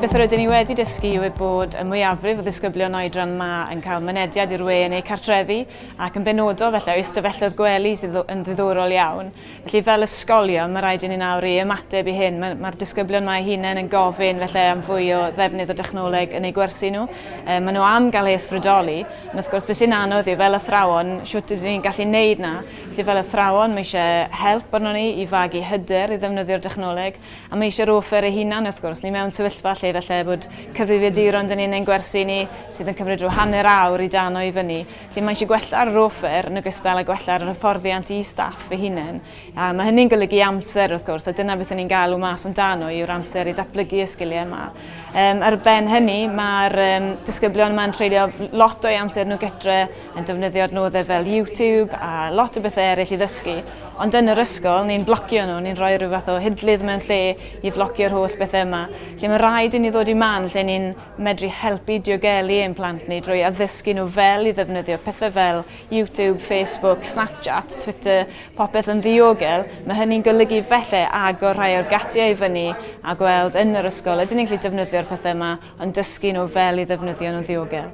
Beth rydyn ni wedi dysgu yw eu bod y mwyafrif o ddisgyblion oedran ma yn cael mynediad i'r we yn eu cartrefi ac yn benodol felly oes dyfelloedd gwely sydd yn ddiddorol iawn. Felly, fel ysgolion, mae rhaid i ni nawr i ymateb i hyn. Mae'r mae disgyblion mae hunain yn gofyn felly am fwy o ddefnydd o dechnoleg yn eu gwersi nhw. E, maen nhw am gael ei ysbrydoli. Ond wrth gwrs, beth sy'n anodd yw fel athrawon, siwt ydyn ni'n gallu neud na. Felly fel athrawon, mae eisiau help arno ni i fagu hyder i ddefnyddio'r dechnoleg. A mae eisiau'r offer ei hunan, wrth gwrs. Ni mewn sefyllfa lle felly bod cyfrifiaduron dyn ni'n ein gwersi ni sydd yn cymryd rhyw hanner awr i dano i fyny. Felly mae eisiau gwella'r rofer yn ogystal â gwella'r hyfforddiant i staff ei hunain. A mae hynny'n golygu amser wrth gwrs, a dyna beth ni'n galw mas amdano yw'r amser i ddatblygu y sgiliau yma. Um, ar ben hynny, mae'r um, disgyblion yma'n treulio lot o'i amser nhw gytre yn defnyddio adnoddau fel YouTube a lot o bethau eraill i ddysgu. Ond yn yr ysgol, ni'n blocio nhw, ni'n rhoi rhyw fath o hidlydd mewn lle i flocio'r holl bethau yma. Lle mae rhaid i ni ddod i man lle ni'n medru helpu diogelu ein plant ni drwy addysgu nhw fel i ddefnyddio pethau fel YouTube, Facebook, Snapchat, Twitter, popeth yn ddiogel, mae hynny'n golygu felly agor rhai o'r gatiau i fyny a gweld yn yr ysgol ydyn ni'n gallu defnyddio'r pethau yma ond dysgu nhw fel i ddefnyddio nhw'n ddiogel.